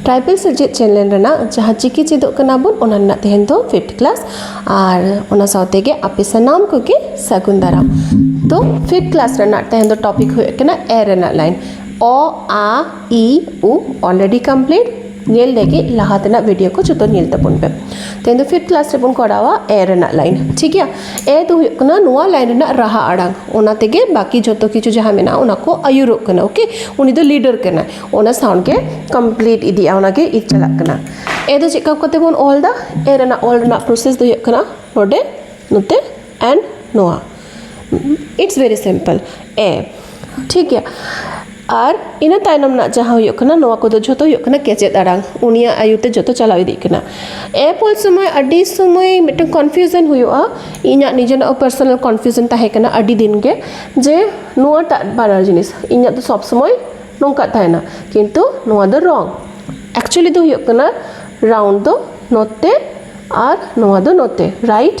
tribal ᱥᱮᱪᱮᱫ channel ᱨᱮᱱᱟᱜ ᱡᱟᱦᱟᱸ ᱪᱤᱠᱤ ᱪᱮᱫᱚᱜ ᱠᱟᱱᱟ ᱵᱚᱱ ᱚᱱᱟ ᱨᱮᱱᱟᱜ ᱛᱮᱦᱮᱧ ᱫᱚ ᱯᱷᱤᱯᱛᱷ ᱠᱞᱟᱥ ᱟᱨ ᱚᱱᱟ ᱥᱟᱶᱛᱮ ᱜᱮ ᱟᱯᱮ ᱥᱟᱱᱟᱢ ᱠᱚᱜᱮ ᱥᱟᱹᱜᱩᱱ ᱫᱟᱨᱟᱢ ᱛᱚ ᱯᱷᱤᱯᱛᱷ ᱠᱞᱟᱥ ᱨᱮᱱᱟᱜ ᱛᱮᱦᱮᱧ ᱫᱚ ᱴᱚᱯᱤᱠ ᱦᱩᱭᱩᱜ ᱠᱟᱱᱟ ᱮ ᱨᱮᱱᱟᱜ ᱞᱟᱭᱤᱱ ᱚ ᱟ ᱤ ᱩ ᱚᱞᱨᱮᱰᱤ ᱠᱚᱢᱯᱞᱤᱴ ᱧᱮᱞ ᱞᱟᱹᱜᱤᱫ ᱞᱟᱦᱟ ᱛᱮᱱᱟᱜ ᱵᱷᱤᱰᱤᱭᱳ ᱠᱚ ᱡᱚᱛᱚ ᱧᱮᱞ ᱛᱟᱵᱚᱱ ᱯᱮ ᱛᱮᱦᱮᱧ ᱫᱚ ᱯᱷᱤᱯᱛᱷ ᱠᱞᱟᱥ ᱨᱮᱵᱚᱱ ᱠᱚᱨᱟᱣᱟ ᱮ ᱨᱮᱱᱟᱜ ᱞᱟᱭᱤᱱ ᱴᱷᱤᱠ ᱜᱮᱭᱟ ᱮ ᱫᱚ ᱦᱩᱭᱩᱜ ᱠᱟᱱᱟ ᱱᱚᱣᱟ ᱞᱟᱭᱤᱱ ᱨᱮᱱᱟᱜ ᱨᱟᱦᱟ ᱟᱲᱟᱝ ᱚᱱᱟ ᱛᱮᱜᱮ ᱵᱟᱹᱠᱤ ᱡᱚᱛᱚ ᱠᱤᱪᱷᱩ ᱡᱟᱦᱟᱸ ᱢᱮᱱᱟᱜᱼᱟ ᱚᱱᱟ ᱠᱚ ᱟᱹᱭᱩᱨᱚᱜ ᱠᱟᱱᱟ ᱳᱠᱮ ᱩᱱᱤ ᱫᱚ ᱞᱤᱰᱟᱨ ᱠᱟᱱᱟᱭ ᱚᱱᱟ ᱥᱟᱣᱩᱱᱰ ᱜᱮ ᱠᱚᱢᱯᱞᱤᱴ ᱤᱫᱤᱜᱼᱟ ᱚᱱᱟᱜᱮ ᱤᱠ ᱪᱟᱞᱟᱜ ᱠᱟᱱᱟ ᱮ ᱫᱚ ᱪᱮᱫ ᱞᱮᱠᱟ ᱠᱟᱛᱮ ᱵᱚᱱ ᱚᱞᱫᱟ ᱮ ᱨᱮᱱᱟᱜ ᱚᱞ ᱨᱮᱱᱟᱜ ᱯᱨᱚᱥᱮᱥ ᱫᱚ ᱦᱩᱭᱩᱜ ᱠᱟᱱᱟ ᱱᱚᱰᱮ ᱱᱚᱛᱮ ᱮᱱᱰ ᱱᱚᱣᱟ ᱤᱴᱥ ᱵᱷᱮᱨᱤ ᱥᱤᱢᱯᱮᱞ ᱮ ᱴᱷᱤᱠ ᱜᱮᱭᱟ ᱟᱨ ᱤᱱᱟᱹ ᱛᱟᱭᱱᱚᱢ ᱨᱮᱱᱟᱜ ᱡᱟᱦᱟᱸ ᱦᱩᱭᱩᱜ ᱠᱟᱱᱟ ᱱᱚᱣᱟ ᱠᱚᱫᱚ ᱡᱷᱚᱛᱚ ᱦᱩᱭᱩᱜ ᱠᱟᱱᱟ ᱠᱮᱪᱮᱫ ᱟᱲᱟᱝ ᱩᱱᱤᱭᱟᱜ ᱟᱭᱩᱨ ᱛᱮ ᱡᱚᱛᱚ ᱪᱟᱞᱟᱣ ᱤᱫᱤᱜ ᱠᱟᱱᱟ ᱮ ᱯᱚᱨ ᱥᱚᱢᱚᱭ ᱟᱹᱰᱤ ᱥᱚᱢᱚᱭ ᱢᱤᱫᱴᱟᱝ ᱠᱚᱱᱯᱷᱤᱭᱩᱡᱚᱱ ᱦᱩᱭᱩᱜᱼᱟ ᱤᱧᱟᱹᱜ ᱱᱤᱡᱮᱨᱟᱜ ᱦᱚᱸ ᱯᱟᱨᱥᱚᱱᱟᱞ ᱠᱚᱱᱯᱷᱤᱭᱩᱡᱚᱱ ᱛᱟᱦᱮᱸ ᱠᱟᱱᱟ ᱟᱹᱰᱤ ᱫᱤᱱ ᱜᱮ ᱡᱮ ᱱᱚᱣᱟᱴᱟᱜ ᱵᱟᱱᱟᱨ ᱡᱤᱱᱤᱥ ᱤᱧᱟᱹᱜ ᱫᱚ ᱥᱚᱵ ᱥᱚᱢᱚᱭ ᱱᱚᱝᱠᱟ ᱛᱟᱦᱮᱱᱟ ᱠᱤᱱᱛᱩ ᱱᱚᱣᱟ ᱫᱚ ᱨᱚᱝ ᱮᱠᱪᱩᱞᱤ ᱫᱚ ᱦᱩᱭᱩᱜ ᱠᱟᱱᱟ ᱨᱟᱣᱩᱱᱰ ᱫᱚ ᱱᱚᱛᱮ ᱟᱨ ᱱᱚᱣᱟ ᱫᱚ ᱱᱚᱛᱮ ᱨᱟᱭᱤᱴ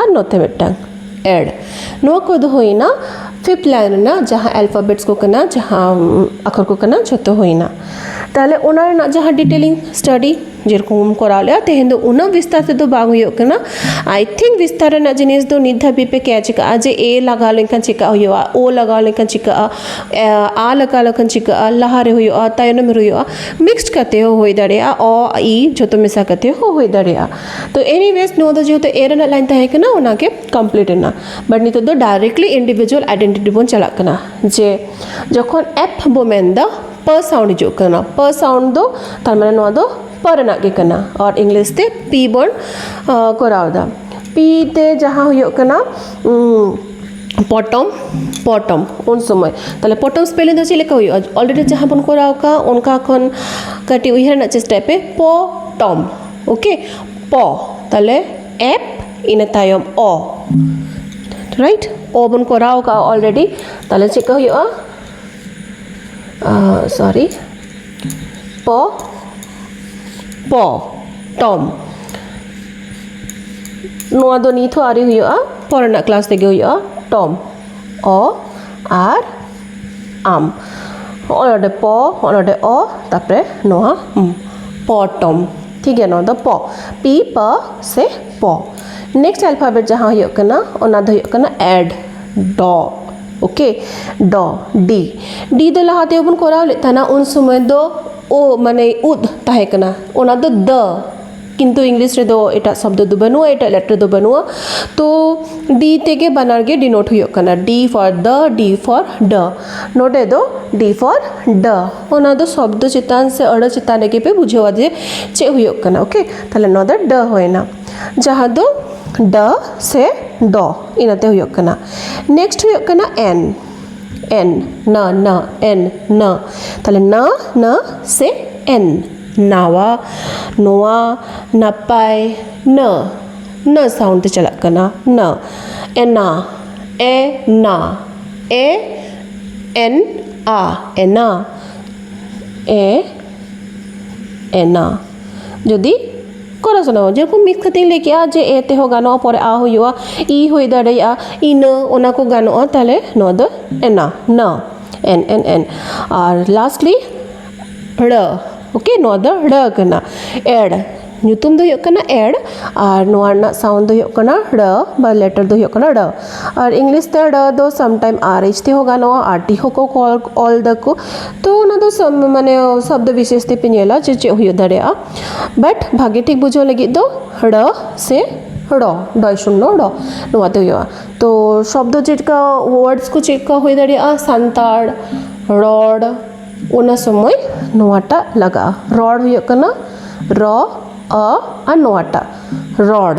ᱟᱨ ᱱᱚᱛᱮ ᱢᱤᱫᱴᱟᱝ ᱮᱰ ᱱᱚᱣᱟ ᱠᱚᱫᱚ ᱦᱩᱭᱱᱟ ᱯᱷᱤᱯᱛᱷ ᱞᱟᱭᱤᱱ ᱨᱮᱱᱟᱜ ᱡᱟᱦᱟᱸ ᱟᱞᱯᱷᱟᱵᱮᱴᱥ ᱠᱚ ᱠᱟᱱᱟ ᱡᱟᱦᱟᱸ ᱟᱠᱷᱚᱨ ᱠᱚ ᱠᱟᱱᱟ ᱡᱷᱚᱛᱚ ᱦᱩᱭᱱᱟ ᱛᱟᱦᱚᱞᱮ ᱚᱱᱟ ᱨᱮᱱᱟᱜ ᱡᱟᱦᱟᱸ ᱰᱤᱴᱮᱞᱤᱝ ᱥᱴᱟᱰᱤ ᱡᱮᱨᱚᱠᱚᱢ ᱠᱚᱨᱟᱣ ᱞᱮᱜᱼᱟ ᱛᱮᱦᱮᱧ ᱫᱚ ᱩᱱᱟᱹᱜ ᱵᱤᱥᱛᱟᱨ ᱛᱮᱫᱚ ᱵᱟᱝ ᱦᱩᱭᱩᱜ ᱠᱟᱱᱟ ᱟᱭ ᱛᱷᱤᱝᱠ ᱵᱤᱥᱛᱟᱨ ᱨᱮᱱᱟᱜ ᱡᱤᱱᱤᱥ ᱫᱚ ᱱᱤᱛ ᱫᱷᱟᱹᱵᱤᱡ ᱯᱮ ᱠᱮᱪ ᱠᱟᱜᱼᱟ ᱡᱮ ᱮ ᱞᱟᱜᱟᱣ ᱞᱮᱱᱠᱷᱟᱱ ᱪᱮᱠᱟ ᱦᱩᱭᱩᱜᱼᱟ ᱳ ᱞᱟᱜᱟᱣ ᱞᱮᱱᱠᱷᱟᱱ ᱪᱤᱠᱟᱹᱜᱼᱟ ᱟ ᱞᱟᱜᱟᱣ ᱞᱮᱠᱷᱟᱱ ᱪᱤᱠᱟᱹᱜᱼᱟ ᱞᱟᱦᱟᱨᱮ ᱦᱩᱭᱩᱜᱼᱟ ᱛᱟᱭᱱᱚᱢ ᱨᱮ ᱦᱩᱭᱩᱜᱼᱟ ᱢᱤᱠᱥᱰ ᱠᱟᱛᱮ ᱦᱚᱸ ᱦᱩᱭ ᱫᱟᱲᱮᱭᱟᱜᱼᱟ ᱚ ᱟ ᱤ ᱡᱷᱚᱛᱚ ᱢᱮᱥᱟ ᱠᱟᱛᱮ ᱦᱚᱸ ᱦᱩᱭ ᱫᱟᱲᱮᱭᱟᱜᱼᱟ ᱛᱚ ᱮᱱᱤ ᱵᱮᱥ ᱱᱚᱣᱟ ᱫᱚ ᱡᱮᱦᱮᱛᱩ ᱮ ᱨᱮᱱᱟᱜ ᱞᱟᱭᱤᱱ ᱛᱟᱦᱮᱸ ᱠᱟᱱᱟ ᱚᱱᱟᱜᱮ ᱠᱚᱢᱯᱞᱤᱴ ᱮᱱᱟ ᱵᱟᱴ ᱱᱤᱛᱚᱜ ᱫᱚ ᱰᱟᱭᱨᱮᱠᱴᱞᱤ ᱤᱱᱰᱤᱵᱷᱤᱡᱩᱣᱟᱞ ᱟᱭᱰᱮᱱᱴᱤᱴᱤ ᱵᱚᱱ ᱪᱟᱞᱟᱜ ᱠᱟᱱᱟ ᱡᱮ ᱡᱚᱠᱷᱚᱱ ᱮᱯᱷ ᱵᱚ ᱢᱮᱱᱫᱟ ᱯ ᱥᱟᱣᱩᱱᱰ ᱦᱤᱡᱩᱜ ᱠᱟᱱᱟ ᱯ ᱥᱟᱣᱩᱱᱰ ᱫᱚ ᱛᱟᱨᱢᱟᱱᱮ ᱱᱚᱣᱟ ᱫᱚ ᱯ ᱨᱮᱱᱟᱜ ᱜᱮ ᱠᱟᱱᱟ ᱟᱨ ᱤᱝᱞᱤᱥ ᱛᱮ ᱯᱤ ᱵᱚᱱ ᱠᱚᱨᱟᱣᱫᱟ ᱯᱤ ᱛᱮ ᱡᱟᱦᱟᱸ ᱦᱩᱭᱩᱜ ᱠᱟᱱᱟ ᱯᱚᱴᱚᱢ ᱯᱚᱴᱚᱢ ᱩᱱ ᱥᱚᱢᱚᱭ ᱛᱟᱦᱞᱮ ᱯᱚᱴᱚᱢ ᱥᱯᱮᱞᱤᱝ ᱫᱚ ᱪᱮᱫ ᱞᱮᱠᱟ ᱦᱩᱭᱩᱜᱼᱟ ᱚᱞᱨᱮᱰᱤ ᱡᱟᱦᱟᱸ ᱵᱚᱱ ᱠᱚᱨᱟᱣ ᱠᱟᱜ ᱚᱱᱠᱟ ᱠᱷᱚᱱ ᱠᱟᱹᱴᱤᱡ ᱩᱭᱦᱟᱹᱨ ᱨᱮᱱᱟᱜ ᱪᱮᱥᱴᱟᱭ ᱯᱮ ᱯᱚᱴᱚᱢ ᱳᱠᱮ ᱯᱚ ᱛᱟᱦᱚᱞᱮ ᱮᱯ ᱤᱱᱟᱹ ᱛᱟᱭᱚᱢ ᱚ ᱨᱟᱭᱤᱴ ᱚ ᱵᱚᱱ ᱠᱚᱨᱟᱣ ᱠᱟᱜᱼᱟ ᱚᱞᱨᱮᱰᱤ ᱛᱟᱦᱚᱞᱮ ᱪᱮᱫ ᱠᱚ ᱦᱩᱭᱩᱜᱼᱟ ᱥᱚᱨᱤ ᱯᱚ ᱯᱚ ᱴᱚᱢ ᱱᱚᱣᱟ ᱫᱚ ᱱᱤᱛ ᱦᱚᱸ ᱟᱹᱣᱨᱤ ᱦᱩᱭᱩᱜᱼᱟ ᱯᱚᱨᱮᱱᱟᱜ ᱠᱞᱟᱥ ᱨᱮᱜᱮ ᱦᱩᱭᱩᱜᱼᱟ ᱴᱚᱢ ᱚ ᱟᱨ ᱟᱢ ᱦᱚᱸᱜᱼᱚᱭ ᱱᱚᱰᱮ ᱯᱚ ᱦᱚᱸᱜᱼᱚᱭ ᱱᱚᱰᱮ ᱚ ᱛᱟᱨᱯᱚᱨᱮ ᱱᱚᱣᱟ ᱢ ᱯᱚᱴᱚᱢ ᱴᱷᱤᱠᱜᱮᱭᱟ ᱱᱚᱣᱟ ᱫᱚ ᱯᱚ ᱯᱤ ᱯ ᱥᱮ ᱯᱚ ᱱᱮᱠᱥᱴ ᱟᱞᱯᱷᱟᱵᱮᱴ ᱡᱟᱦᱟᱸ ᱦᱩᱭᱩᱜ ᱠᱟᱱᱟ ᱚᱱᱟ ᱫᱚ ᱦᱩᱭᱩᱜ ᱠᱟᱱᱟ ᱮᱰ ᱰᱚ ᱳᱠᱮ ᱰᱚ ᱰᱤ ᱰᱤ ᱫᱚ ᱞᱟᱦᱟ ᱛᱮᱜᱮ ᱵᱚᱱ ᱠᱚᱨᱟᱣ ᱞᱮᱫ ᱛᱟᱦᱮᱱᱟ ᱩᱱ ᱥᱚᱢᱚᱭ ᱫᱚ ᱳ ᱢᱟᱱᱮ ᱩᱫ ᱛᱟᱦᱮᱸ ᱠᱟᱱᱟ ᱚᱱᱟ ᱫᱚ ᱫᱟᱹ ᱠᱤᱱᱛᱩ ᱤᱝᱞᱤᱥ ᱨᱮᱫᱚ ᱮᱴᱟᱜ ᱥᱚᱵᱫᱚ ᱫᱚ ᱵᱟᱹᱱᱩᱜᱼᱟ ᱮᱴᱟᱜ ᱞᱮᱴᱟᱨ ᱫᱚ ᱵᱟᱹᱱᱩᱜᱼᱟ ᱛᱚ ᱰᱤ ᱛᱮᱜᱮ ᱵᱟᱱᱟᱨ ᱜᱮ ᱰᱤᱱᱳᱴ ᱦᱩᱭᱩᱜ ᱠᱟᱱᱟ ᱰᱤ ᱯᱷᱚᱨ ᱫᱟ ᱰᱤ ᱯᱷᱚᱨ ᱰᱟ ᱱᱚᱰᱮ ᱫᱚ ᱰᱤ ᱯᱷᱚᱨ ᱰᱟ ᱚᱱᱟ ᱫᱚ ᱥᱚᱵᱫᱚ ᱪᱮᱛᱟᱱ ᱥᱮ ᱟᱹᱲᱟᱹ ᱪᱮᱛᱟᱱ ᱨᱮᱜᱮ ᱯᱮ ᱵᱩᱡᱷᱟᱹᱣᱟ ᱡᱮ ᱪᱮᱫ ᱦᱩᱭᱩᱜ ᱠᱟᱱᱟ ᱳᱠᱮ ᱛᱟᱦᱞᱮ ᱱᱚᱣᱟ ᱫᱚ ᱰᱟ ᱦᱩᱭᱱᱟ ᱡᱟᱦᱟᱸ ᱫᱚ ᱰᱟ ᱥᱮ ᱰᱚ ᱤᱱᱟᱹᱛᱮ ᱦᱩᱭᱩᱜ ᱠᱟᱱᱟ ᱱᱮᱠᱥᱴ ᱦᱩᱭᱩᱜ ᱠᱟᱱᱟ ᱮᱱ ᱮᱱ ᱱᱟ ᱱᱟ ᱮᱱ ᱱᱟ ᱛᱟᱦᱞᱮ ᱱᱟ ᱱᱟ ᱥᱮ ᱮᱱ ᱱᱟᱣᱟ ᱱᱚᱣᱟ ᱱᱟᱯᱟᱭ ᱱᱟᱹ ᱱᱟᱹ ᱥᱟᱣᱩᱱᱰ ᱛᱮ ᱪᱟᱞᱟᱜ ᱠᱟᱱᱟ ᱱᱟᱹ ᱮᱱᱟ ᱮ ᱱᱟ ᱮ ᱮᱱ ᱟ ᱮᱱᱟ ᱮ ᱮᱱᱟ ᱡᱩᱫᱤ ᱠᱚᱨᱟᱣ ᱥᱟᱱᱟᱣᱟ ᱡᱮᱨᱚᱠᱚᱢ ᱢᱤᱫ ᱠᱟᱛᱷᱟᱧ ᱞᱟᱹᱭ ᱠᱮᱫᱟ ᱡᱮ ᱮ ᱛᱮᱦᱚᱸ ᱜᱟᱱᱚᱜᱼᱟ ᱯᱚᱨᱮ ᱟ ᱦᱩᱭᱩᱜᱼᱟ ᱤ ᱦᱩᱭ ᱫᱟᱲᱮᱭᱟᱜᱼᱟ ᱤᱱᱟᱹ ᱚᱱᱟ ᱠᱚ ᱜᱟᱱᱚᱜᱼᱟ ᱛᱟᱦᱚᱞᱮ ᱱᱚᱣᱟ ᱫᱚ ᱮᱱᱟ ᱱᱟᱹ ᱮᱱ ᱮᱱ ᱮᱱ ᱟᱨ ᱞᱟᱥᱴᱞᱤ ᱲ ᱳᱠᱮ ᱱᱚᱣᱟ ᱫᱚ ᱲ ᱠᱟᱱᱟ ᱮᱲ ᱧᱩᱛᱩᱢ ᱫᱚ ᱦᱩᱭᱩᱜ ᱠᱟᱱᱟ ᱮᱲ ᱟᱨ ᱱᱚᱣᱟ ᱨᱮᱱᱟᱜ ᱥᱟᱣᱩᱱᱰ ᱫᱚ ᱦᱩᱭᱩᱜ ᱠᱟᱱᱟ ᱲ ᱵᱟ ᱞᱮᱴᱟᱨ ᱫᱚ ᱦᱩᱭᱩᱜ ᱠᱟᱱᱟ ᱲ ᱟᱨ ᱤᱝᱞᱤᱥ ᱛᱮ ᱲ ᱫᱚ ᱥᱟᱢ ᱴᱟᱭᱤᱢ ᱟᱨ ᱮᱭᱤᱪ ᱛᱮᱦᱚᱸ ᱜᱟᱱᱚᱜᱼᱟ ᱟᱨ ᱴᱤ ᱦᱚᱸᱠᱚ ᱚᱞ ᱚᱞ ᱫᱟᱠᱚ ᱛᱚ ᱚᱱᱟ ᱫᱚ ᱥᱚᱵ ᱢᱟᱱᱮ ᱥᱚᱵᱫᱚ ᱵᱤᱥᱮᱥ ᱛᱮᱯᱮ ᱧᱮᱞᱟ ᱡᱮ ᱪᱮᱫ ᱦᱩᱭ ᱫᱟᱲᱮᱭᱟᱜᱼᱟ ᱵᱟᱴ ᱵᱷᱟᱜᱮ ᱴᱷᱤᱠ ᱵᱩᱡᱷᱟᱹᱣ ᱞᱟᱹᱜᱤᱫ ᱫᱚ ᱲ ᱥᱮ ᱲ ᱰᱚᱭ ᱥᱩᱱᱱᱚ ᱲ ᱱᱚᱣᱟ ᱫᱚ ᱦᱩᱭᱩᱜᱼᱟ ᱛᱚ ᱥᱚᱵᱫᱚ ᱪᱮᱫ ᱞᱮᱠᱟ ᱳᱣᱟᱨᱰᱥ ᱠᱚ ᱪᱮᱫ ᱞᱮᱠᱟ ᱦᱩᱭ ᱫᱟᱲᱮᱭᱟᱜᱼᱟ ᱥᱟᱱᱛᱟᱲ ᱨᱚᱲ ᱚᱱᱟ ᱥᱚᱢᱚᱭ ᱱᱚᱣᱟᱴᱟᱜ ᱞᱟᱜᱟᱜᱼᱟ ᱨᱚᱲ ᱦᱩᱭᱩᱜ ᱠᱟᱱᱟ ᱨᱚ ᱚ ᱟᱨ ᱱᱚᱣᱟᱴᱟᱜ ᱨᱚᱲ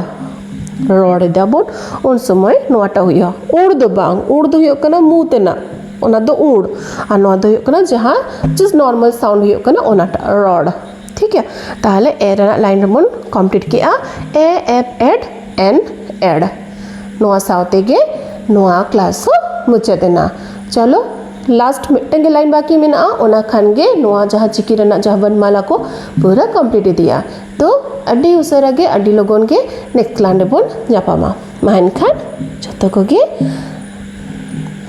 ᱨᱚᱲ ᱮᱫᱟᱵᱚᱱ ᱩᱱ ᱥᱚᱢᱚᱭ ᱱᱚᱣᱟᱴᱟᱜ ᱦᱩᱭᱩᱜᱼᱟ ᱩᱲ ᱫᱚ ᱵᱟᱝ ᱩᱲ ᱫᱚ ᱦᱩᱭᱩᱜ ᱠᱟᱱᱟ ᱢᱩ ᱛᱮᱱᱟᱜ ᱚᱱᱟ ᱫᱚ ᱩᱲ ᱟᱨ ᱱᱚᱣᱟ ᱫᱚ ᱦᱩᱭᱩᱜ ᱠᱟᱱᱟ ᱡᱟᱦᱟᱸ ᱡᱟᱥᱴ ᱱᱚᱨᱢᱟᱞ ᱥᱟᱣᱩᱱᱰ ᱦᱩᱭᱩᱜ ᱠᱟᱱᱟ ᱚᱱᱟᱴᱟᱜ ᱨᱚᱲ ᱴᱷᱤᱠ ᱜᱮᱭᱟ ᱛᱟᱦᱚᱞᱮ ᱮ ᱨᱮᱱᱟᱜ ᱞᱟᱭᱤᱱ ᱨᱮᱵᱚᱱ ᱠᱚᱢᱯᱞᱤᱴ ᱠᱮᱜᱼᱟ ᱮ ᱮᱯ ᱮᱰ ᱮᱱ ᱮᱰ ᱱᱚᱣᱟ ᱥᱟᱶ ᱛᱮᱜᱮ ᱱᱚᱣᱟ ᱠᱞᱟᱥ ᱦᱚᱸ ᱢᱩᱪᱟᱹᱫ ᱮᱱᱟ ᱪᱚᱞᱚ ᱞᱟᱥᱴ ᱢᱤᱫᱴᱟᱝ ᱜᱮ ᱞᱟᱭᱤᱱ ᱵᱟᱹᱠᱤ ᱢᱮᱱᱟᱜᱼᱟ ᱚᱱᱟ ᱠᱷᱟᱱ ᱜᱮ ᱱᱚᱣᱟ ᱡᱟᱦᱟᱸ ᱪᱤᱠᱤ ᱨᱮᱱᱟᱜ ᱡᱟᱦᱟᱸ ᱵᱚᱨᱱᱢᱟᱞᱟ ᱠᱚ ᱯᱩᱨᱟᱹ ᱠᱚᱢᱯᱞᱤᱴ ᱤᱫᱤᱜᱼᱟ ᱛᱚ ᱟᱹᱰᱤ ᱩᱥᱟᱹᱨᱟ ᱜᱮ ᱟᱹᱰᱤ ᱞᱚᱜᱚᱱ ᱜᱮ ᱱᱮᱠᱥᱴ ᱞᱟᱭᱤᱱ ᱨᱮᱵᱚᱱ ᱧᱟᱯᱟᱢᱟ ᱢᱟ ᱮᱱᱠᱷᱟᱱ ᱡᱚᱛᱚ ᱠᱚᱜᱮ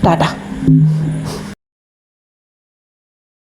ᱴᱟᱴᱟ